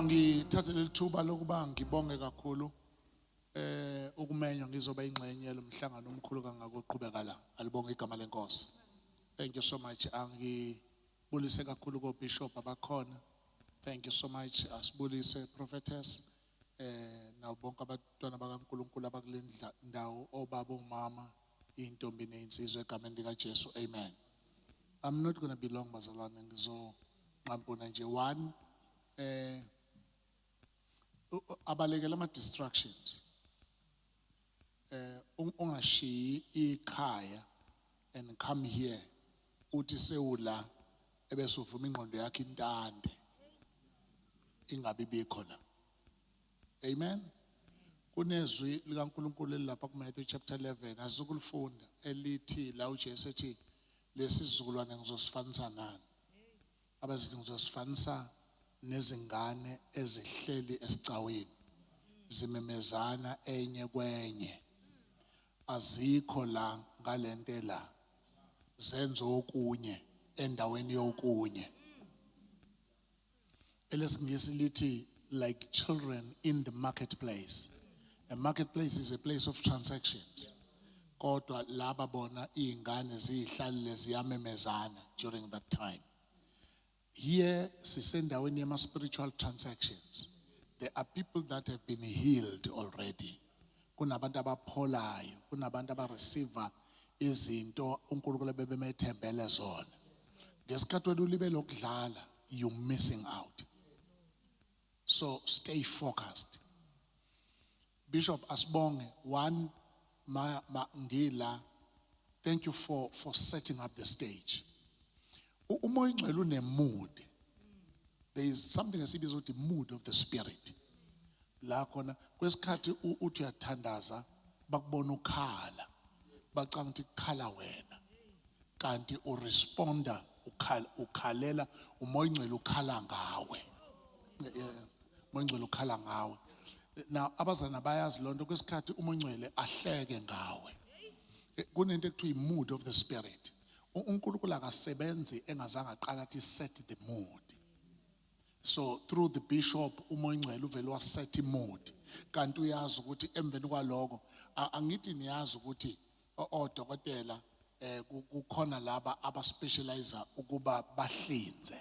ngithathe leli thuba lokuba ngibonge kakhulu eh ukumenywa ngizoba ingxenye lomhlangano omkhulu kangaka oqhubeka la alibonga igama lenkosi thank you so much angibulise kakhulu ko bishop abakhona Thank you so much. Asibulise prophetess eh nabo bonke abantwana bakaNkuluNkulu abakule ndla- ndawo obaba omama intombi nezinsizwa egameni lika Jesu. Amen. I'm not going to be long bazalwane ngizo nqampuna nje one eh u- u- abalekela ama distractions. Eh ung- ungashiyi ikhaya and come here uthi sewula ebese uvuma ingqondo yakhe intande ingabi bikho la amen kunezwi likaNkuluNkulu elilapha kuMatthew chapter 11 asikulifunda elithi la uJesu ethi lesizukulwane ngizosifanisa nani abazithi ngizosifanisa nezingane ezihleli esicaweni zimemezana enye kwenye azikho la ngalento la zenza okunye endaweni yokunye elesingisi lithi like children in the marketplace a marketplace is a place of transactions kodwa laba bona izingane zihlalile ziyamemezana during that time Here sisendaweni yama spiritual transactions. There are people that have been healed already. Kunabantu abapholayo, kunabantu abareceiver izinto uNkulunkulu ebebemethembele zona. Ngesikhathi wena ulibe lokudlala, you missing out. So stay focused. Bishop asibonge one ma, ma ngila thank you for for setting up the stage uma ingcwele une mood there is something esibiza ukuthi mood of the spirit la khona kwesikhathi uthi uyathandaza bakubona ukhala bacanga ukuthi kukhala wena kanti uresponda ukhalela umoya ingcwele ukhala ngawe mongcwele ukhala ngawe na abazana bayazi lonto kwesikhathi umongcwele ahleke ngawe eh, kunento ekuthiwa i-mood of the spirit uNkulunkulu akasebenzi engazange aqala athi set the mood so through the bishop umongcwele uvele waset i-mood kanti uyazi ukuthi emveni kwaloko angithi niyazi ukuthi odokotela eh kukhona laba abaspecialize ukuba bahlinze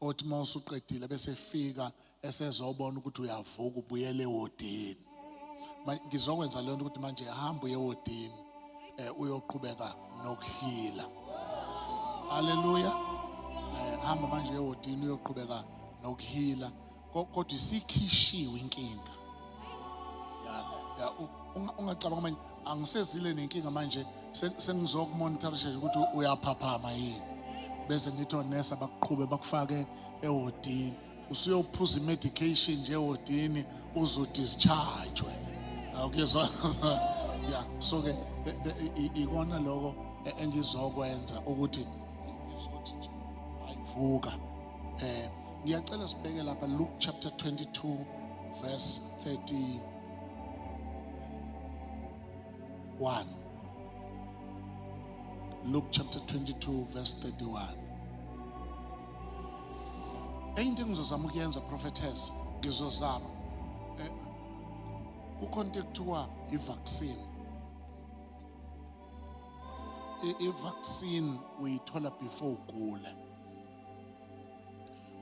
othi uma usuqedile bese fika esezobona ukuthi uyavuka ubuyele ewodini ngizokwenza leyo nto ukuthi manje hamba uye ewodini eh uyoqhubeka nokuhila haleluya eh hamba manje ewodini uyoqhubeka nokuhila Ko- kodwa isikhishiwe inkinga ya ya u- unga- ungacabanga manje angisezile nenkinga manje se- sengizokumonitorisha nje ukuthi uyaphaphama yini bese ngithi onesa bakuqhube bakufake ewodini usuyophuza i-medication nje ewodini uzodischargwe awukuzwa ya so ke the- the- i- i- ikona lokho e- engizokwenza ukuthi ngizothi nje ayivuka Eh ngiyacela sibheke lapha Luke chapter 22 verse 31 Luke chapter 22 verse 31 Eyinto engizozama ukuyenza prophetess ngizozama eh, kukhona into ekuthiwa i-vaccine i-vaccine uyithola before ugula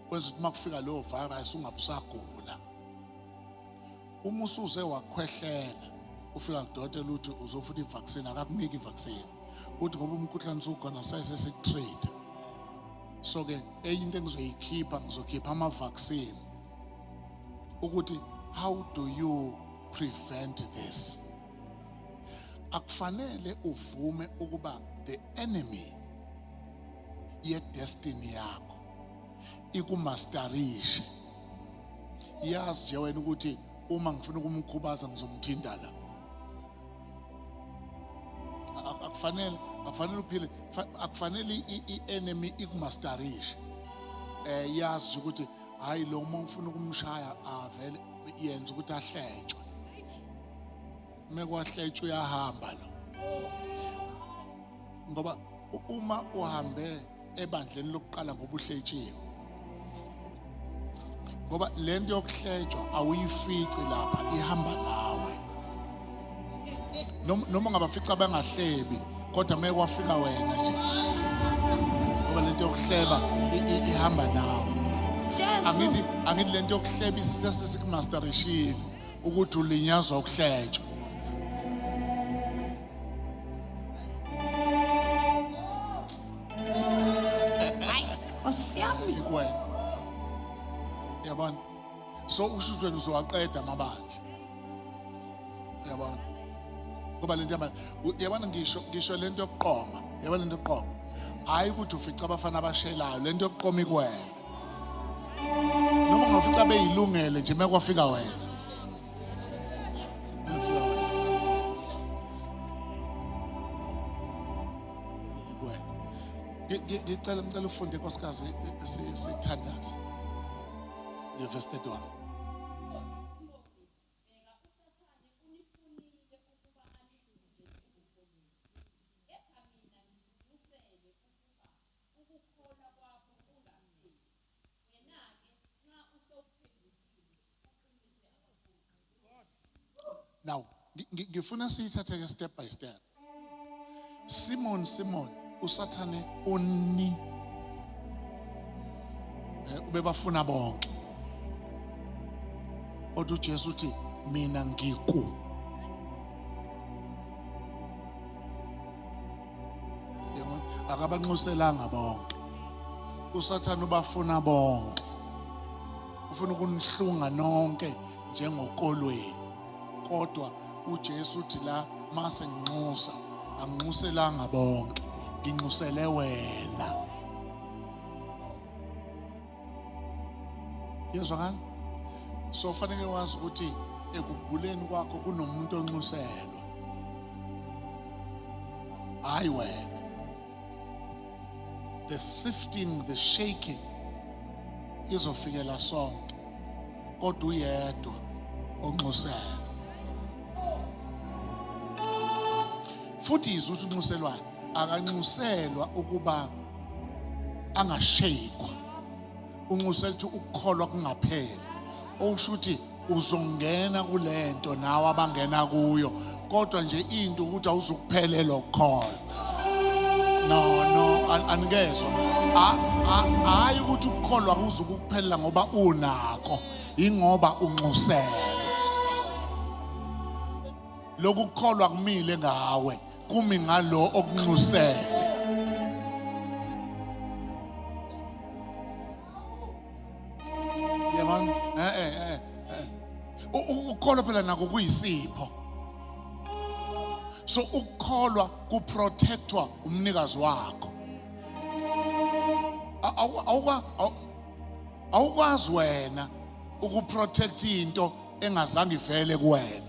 kwenza ukuthi makufika leyo virus ungabusagula uma usuze wakhwehlela ufika kudokotela uthi uzofuna ivaccine akakuniki ivaccine uthi ngoba umkhuhlane usukhona sese sikutrade so ke enye into engizoyikhipha ngizokhipha ama-vaccine ukuthi how do you prevent this akufanele uvume ukuba the enemy yedestiny yakho ikumastarishe yazi nje wena ukuthi uma ngifuna ukumkhubaza ngizomthinta la akufanele akufanele uphile akufanele i-enemy ikumastarishe eh yazi nje ukuthi hayi lo uma ufuna ukumshaya avele yenza ukuthi ahletshwe mekwahletshe uyahamba lo ngoba uma uhambe ebandleni lokuqala ngoba uhletshiwe ngoba le nto yokuhletshwa awuyifici lapha ihamba nawe Nom- noma ungabafica bengahlebi kodwa uma kwafika wena nje ngoba le nto yokuhleba i- i- ihamba nawe Jesu. angithi angithi le nto yokuhleba isitha sesikumasterishile ukuthi ulinyazwa ukuhletshwa kwena yabona so ushutshwe ngizowaqeda amabandla yabona ngoba lento yamanje yabona ngisho ngisho lento yokuqoma yabona lento yokuqoma hayi ukuthi ufica abafana abashelayo lento yokuqoma ikwena noma ungafica beyilungele nje mekwafika wena Mefika wena. Yikwe. Ngi- ngi- ngicela ngicela ufunde nkosikazi i- si- sithandaze ngevesi 31 Kepha mina ngizimisele ukuba ukukholwa kwakho kungapheli. Wena-ke nxa usewuphendukile, uqinise abaphoqi. Now, ngi- ngi- ngifuna siyithatheke step by step. Simon, Simon, usathane uni eh, ubebafuna bonke. Kodwa uJesu uthi mina ngiku. Yabona? akabanxuselanga bonke usathane ubafuna bonke ufuna ukunihlunga nonke njengokolweni kodwa uJesu uthi la mase nginxusa anginxuselanga bonke nginxusele wena yezwakala so fanele wazi ukuthi ekuguleni kwakho kunomuntu onxuselwa hayi wena the sifting the shaking izofikela sonke kodwa uyedwa onxuselwa futhi izwi ukuthi unxuselwane akanxuselwa ukuba angashekwa unxusela ukuthi ukukholwa kungapheli okusho ukuthi uzongena kulento nawe abangena kuyo kodwa nje into ukuthi awuzukuphelelwa ukukholwa no no anikezwa hayi ukuthi ukukholwa kuzukuphelela ngoba unako ingoba unxusela lokukholwa kumile ngawe kumi ngalo okunxusele yabona eh eh eh, eh. ukukholwa phela nako kuyisipho so ukukholwa kuprotectwa umnikazi wakho awukwazi wena ukuprotect into engazange ivele kuwena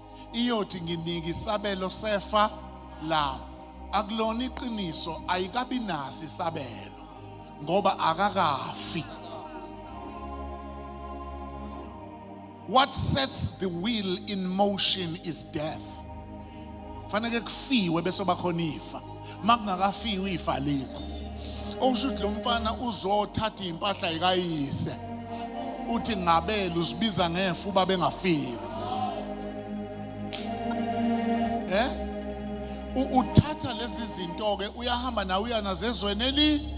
iyothi nginike isabelo sefa lami akulona iqiniso ayikabi nasi isabelo ngoba akakafi what sets the wheel in motion is death fanele kufiwe bese bakhona ifa makungakafiwa ifa likho okusho ukuthi lo mfana uzothatha impahla ikayise uthi ngabela uzibiza ngefa uba bengafile eh uthatha lezi zinto ke uyahamba nawe uyanazo ezweni eli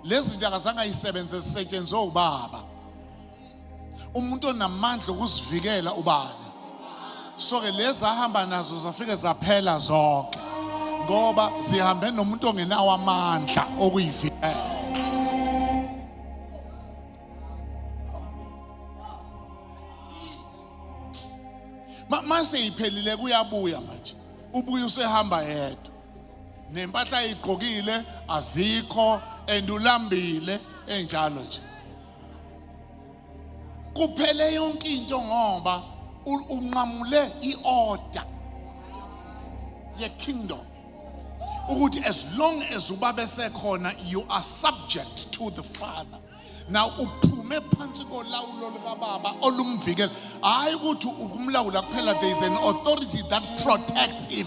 lezi zinto akazange ayisebenze zisetshenzwe ubaba umuntu onamandla okuzivikela ubani so ke lezi ahamba nazo zafike zaphela zonke ngoba zihambe nomuntu ongenawo amandla okuyivikela mase iphelile kuyabuya manje ubuye usehamba yedwa nempahla ayigqokile azikho and ulambile enjalo nje kuphele yonke into ngoba unqamule iorder ye-kingdom ukuthi as long as ubaba esekhona you are subject to the father now uphume phansi kolawulo likababa olumvikela hhayi ukuthi ukumlawula kuphela there is an authority that protects him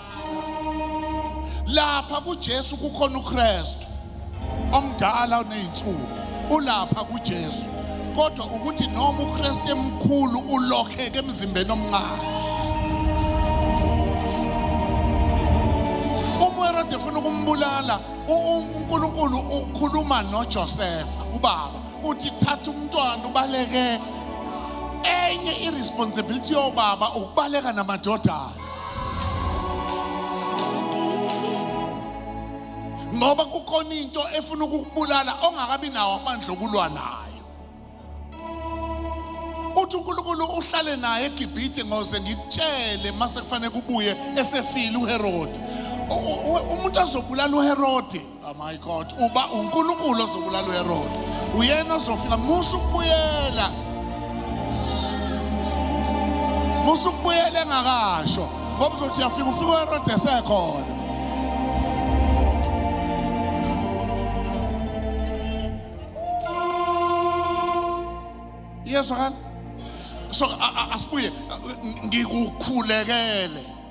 lapha kuJesu kukhona uKristu omdala oneyinsuku ulapha kuJesu kodwa ukuthi noma uKristu emkhulu ulokheke emzimbeni omncane uMerode ufuna ukumbulala uNkulunkulu ukhuluma noJosefa ubaba uthi thatha umntwana ubaleke enye iresponsibility yobaba ukubaleka namadodana ngoba kukhona into efuna ukukubulala ongakabi nawo amandla okulwa nayo uthi uNkulunkulu uhlale naye eGibhithe ngoze ngikutshele mase kufanele kubuye esefile uHerode umuntu azobulala uHerode Oh my God, uba uNkulunkulu ozobulala uHerod. Uyena ozofika musa ukubuyela. Musa ukubuyela engakasho ngoba uzothi uyafika ufika uHerod esekhona. Iyezwakala? So a- a- asibuye ngikukhulekele.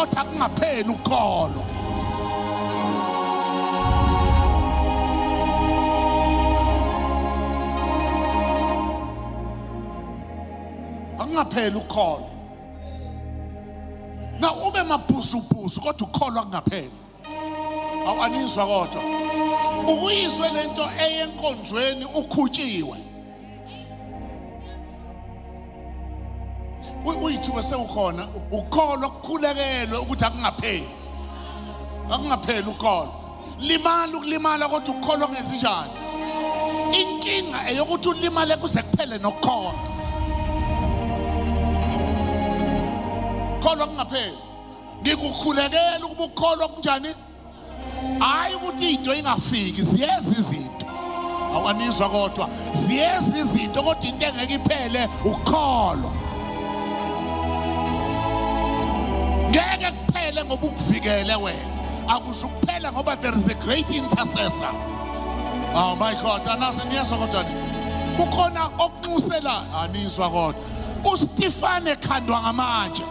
othi akungapheli ukukholwa akungapheli ukukholwa na ube mabhuzubhuzu kodwa ukukholwa kungapheli awanizwa kodwa ukuyizwe lento eyenkonzweni ukhutshiwe uyithuke sewukhona ukholwa kukhulekelwe ukuthi akungapheli akungapheli ukholwa limala ukulimala kodwa ukukholwa ngezinjani inkinga eyokuthi ulimale kuze kuphele nokukholwa kholwa kungapheli ngikukhulekela ukuba ukholwa kunjani hayi ukuthi into ingafiki ziyeza izinto awanizwa kodwa ziyeza izinto kodwa into engeke iphele ukukholwa ngeke kuphele ngoba ukuvikele wena akuzukuphela ngoba there is a great intercessor oh my god anazi niyezwa kodwa kukhona okunxusela anizwa kodwa ustefane khandwa ngamanje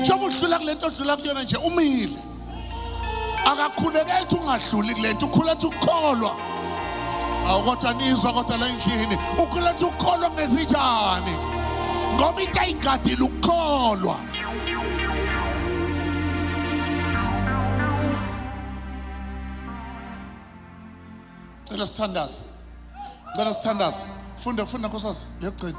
njengoba udlula kule nto odlula kuyona nje umile akakhulekeli ukuthi ungadluli kule nto ukhula ukuthi ukukholwa awu kodwa nizwa kodwa la endlini ukhula ukuthi ukukholwa ngezinjani ngoba into ayigadile ukukholwa cela sithandaze cela sithandaze funda funda nkosaz liyogcina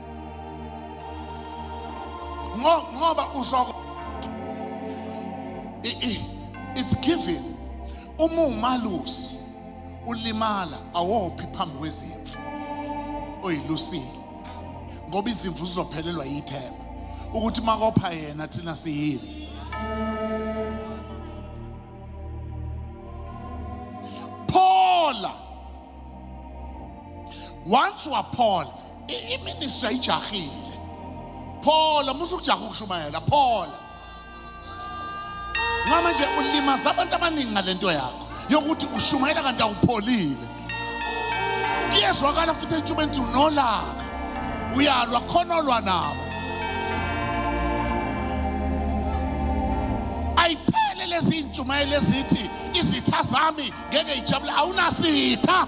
ngoba uzoko it's given uma umalusi ulimala awophi phambi kwezimvu oyilusile ngoba izimvu zizophelelwa yithemba ukuthi makopha yena thina siyini phola once waphola iministry ayijahile phola musa ukujaha ukushumayela phola ngoba manje ulimaza abantu abaningi ngale nto yakho yokuthi ushumayela kanti awupholile kuyezwakala futhi entshubeni ukuthi unolaka uyalwa khona olwa nabo ayiphele lezi ntshumayelo ezithi izitha zami ngeke ijabule awunasitha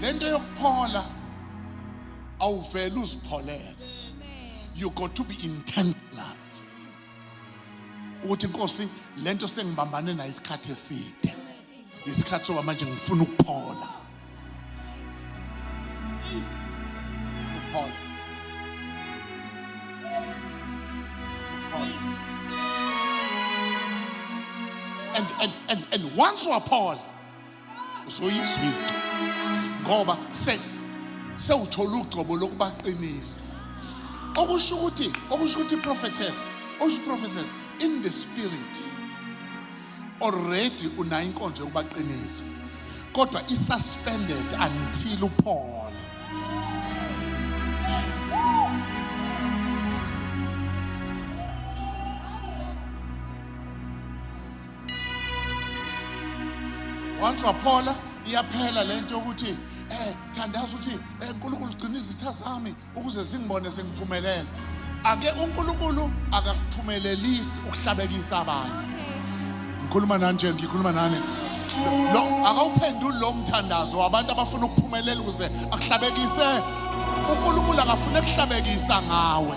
lento yokuphola awuvele uzipholele you got to be intentional ukuthi inkosi lento sengibambane nayo isikhathi eside isikhathi soba manje ngifuna ukuphola And, and, and, and once or Paul, so he's weak. Ngoba se sewuthola ugcobo lokubaqinisa. Okusho ukuthi okusho ukuthi prophetess, okusho prophetess in the spirit. already unayo inkonzo yokubaqinisa kodwa isuspended until uphola once waphola iyaphela lento yokuthi eh thandaza ukuthi eh, uNkulunkulu gcina izitha zami ukuze zingibone sengiphumelela ake uNkulunkulu akakuphumelelisi ukuhlabekisa abanye ngikhuluma nani nje ngikhuluma nani lo akawuphenduli lo mthandazo wabantu abafuna ukuphumelela ukuze akuhlabekise uNkulunkulu akafuna ekuhlabekisa ngawe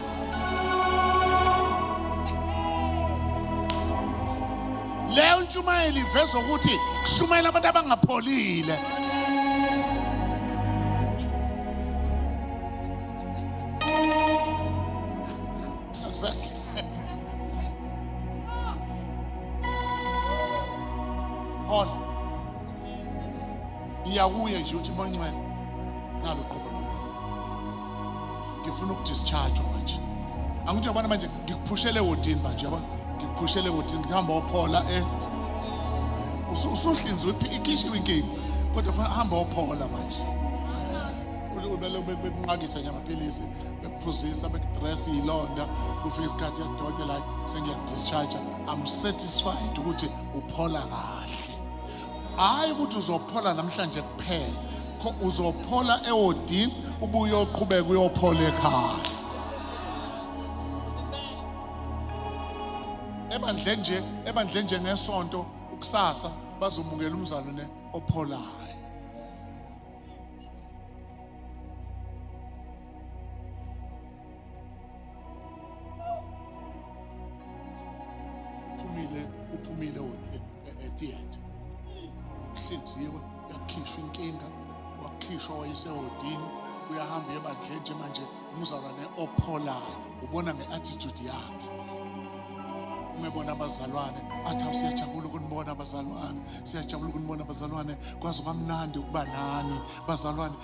leyo ntshumayelo iveza ukuthi kushumayela abantu abangapholile khona iyakuye nje uthi moncwele nalo qhubeka ngifuna ukudischarge manje angithi yabona manje ngikuphushele wodini manje yabona ngikuphushele wodini ngihamba ophola eh usuhlinzwe ikhishiwe inkinga kodwa funa hamba ophola manje ubele bekunqakisa nje amaphilisi bekuphuzisa bekudress ilonda kufika isikhathi yakudokotela sengiyakudischarge i'm satisfied ukuthi uphola kahle hhayi ukuthi uzophola namhlanje kuphela uzophola ewodini ubuye uyoqhubeka uyophola ekhaya ebandleni nje ebandleni nje ngesonto ukusasa bazomukela umzalwane opholayo uphumile uphumile e, e, etiyethe uhlinziwe yakhishwa inkinga wakhishwa wayesewodini uyahamba ebandleni nje manje umzalwane opholayo ubona nge-attitude yakhe umebona abazalwane athi awusiyajabula ukunibona abazalwane siyajabula ukunibona abazalwane kwazi kwamnandi ukuba nani bazalwane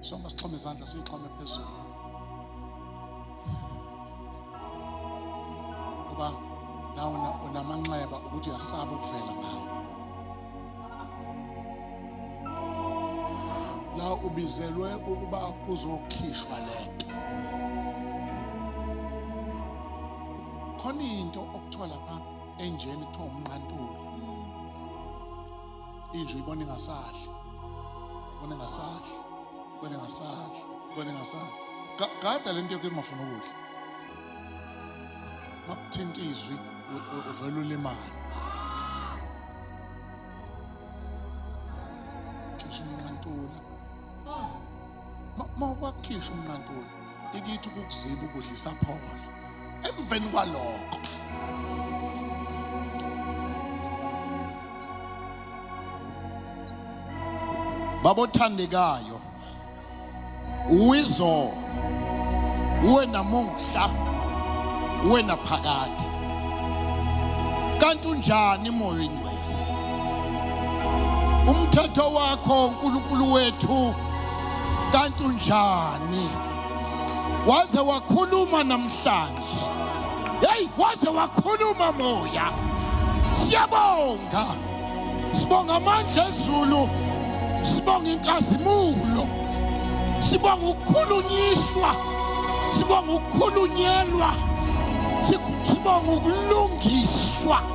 Soma sixhome izandla sixhome phezulu. Ngoba nawe unamanxeba ukuthi uyasaba ukuvela ngawo. La ubizelwe ukuba kuzokhishwa lento. Khona into okuthiwa lapha enjeni kuthiwa umnqantuli. inje ibona ingasadli ibona ingasadli ibona ingasadli ibona ingasadli Ga- gada lento yakho engafuna ukudla makuthinta izwi u- u- uvele ulimale khishwa umnqantula Ma- mawubakhishwa umnqantula ikithi ukukuziba ukudla isapholo emveni kwalokho babothandekayo uwizolo uwe namuhla uwe naphakade kanti unjani moya umthetho wakho nkulunkulu wethu kanti unjani waze wakhuluma namhlanje heyi waze wakhuluma moya siyabonga sibonga amandla ezulu sibonga inkazimulo sibonga ukukhulunyiswa sibonga ukukhulunyelwa sibonga ukulungiswa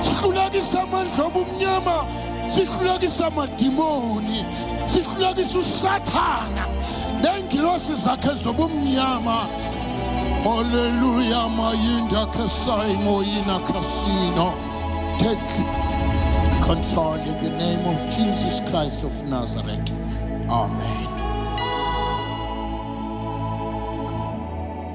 sihlulekisa amandla obumnyama sihlulekisa amadimoni sihlulekisa usathana nengilosi zakhe zobumnyama Hallelujah, my inda kasai moina casino. Take control in the name of Jesus Christ of Nazareth. Amen.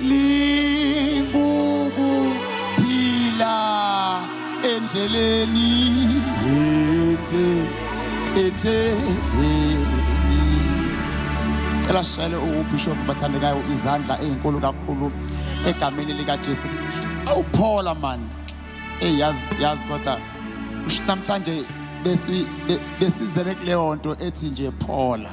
lingukuphila endleleni enhle endleleni cela shayele ubishop bathandekayo izandla ezinkulu kakhulu egameni likaJesu awuphola man hey yaz yaz kodwa namhlanje besi besizele kuleyo nto ethi nje phola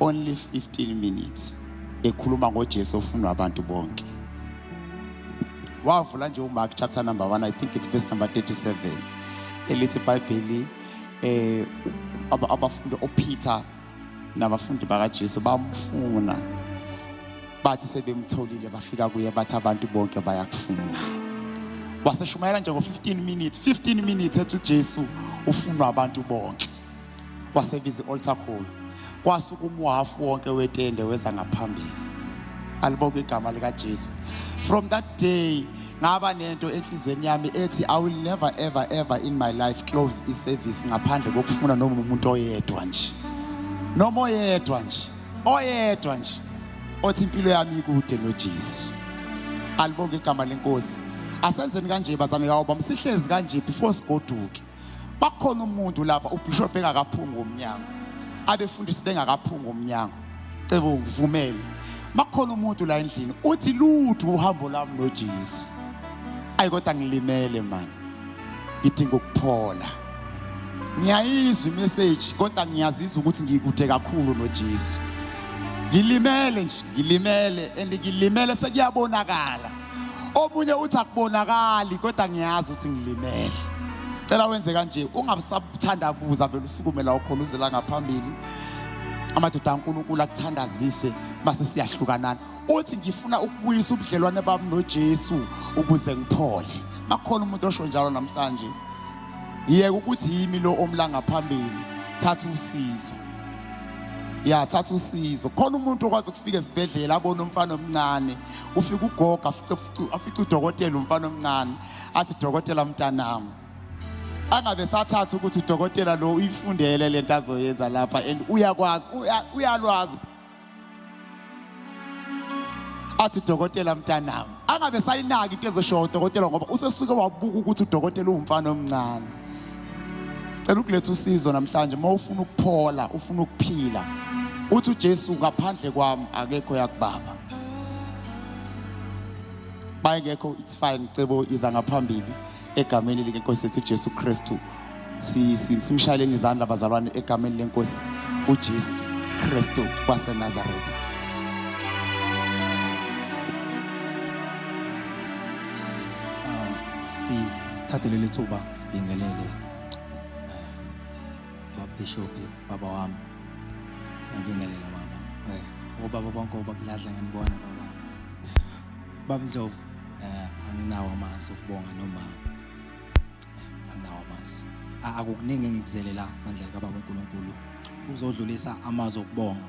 only 15 minutes ekhuluma ngoJesu ofunwa abantu bonke wavula nje uMark chapter number 1 I think it's verse number 37 elithi iBhayibheli eh abafundi oPeter nabafundi bakaJesu bamfuna bathi sebemtholile bafika kuye bathi abantu bonke bayakufuna waseshumayela nje ngo 15 minutes 15 minutes ethi uJesu ufunwa abantu bonke wasebiza i-altar call kwasuka umwafu wonke wetende weza ngaphambili alibonke igama likaJesu from that day ngaba nento enhlizweni yami ethi i will never ever ever in my life close iservice ngaphandle kokufuna noma umuntu oyedwa nje noma oyedwa nje oyedwa nje othi impilo yami ikude noJesu alibonke igama lenkosi asenzeni kanje bazane kawo bamsihlezi kanje before sigoduke bakhona umuntu lapha ubishop engakaphunga umnyango abefundisi bengakaphunga umnyango cebo ngivumele makhona umuntu la endlini uthi lutho uhambo lami noJesu ayi kodwa ngilimele man ngidinga ukuphola ngiyayizwa imessage kodwa ngiyazizwa ukuthi ngikude kakhulu noJesu ngilimele nje ngilimele and ngilimele sekuyabonakala omunye uthi akubonakali kodwa ngiyazi ukuthi ngilimele cela wenze kanje ungabusabuthanda kuza vele usukume la ukhona uzela ngaphambili amadoda ankulunkulu akuthandazise mase siyahlukanana uthi ngifuna ukubuyisa ubudlelwane bami nojesu ukuze ngiphole makhona umuntu osho njalo namhlanje yeke ukuthi yimi lo omla ngaphambili thatha usizo ya thatha usizo khona umuntu okwazi ukufika esibhedlela abone umfana omncane kufika ugogo afica udokotela umfana omncane athi dokotela mntanami angabe sathatha ukuthi udokotela lo uyifundele lento azoyenza lapha and uyakwazi uyalwazi athi dokotela mntanami angabe sayinaki into ezoshiwo udokotela ngoba usesuke wabuka ukuthi udokotela uwumfana omncane cela ukuletha usizo namhlanje uma ufuna ukuphola ufuna ukuphila uthi uJesu ngaphandle kwami akekho yakubaba mayengekho it's fine cebo iza ngaphambili egameni likenkosi yethu Jesu Kristu simshayeleni izandla bazalwane egameni lenkosi uJesu Kristu waseNazaretha sithathe leli thuba sibingelele Bishophi baba wami ngibingelela baba eh obaba bonke obabudladla nginibona baba baba Ndlovu eh anginawo amazi ukubonga noma anginawo amazi akukuningi engikuzelela ngandlela kababa uNkulunkulu uzodlulisa amazi okubonga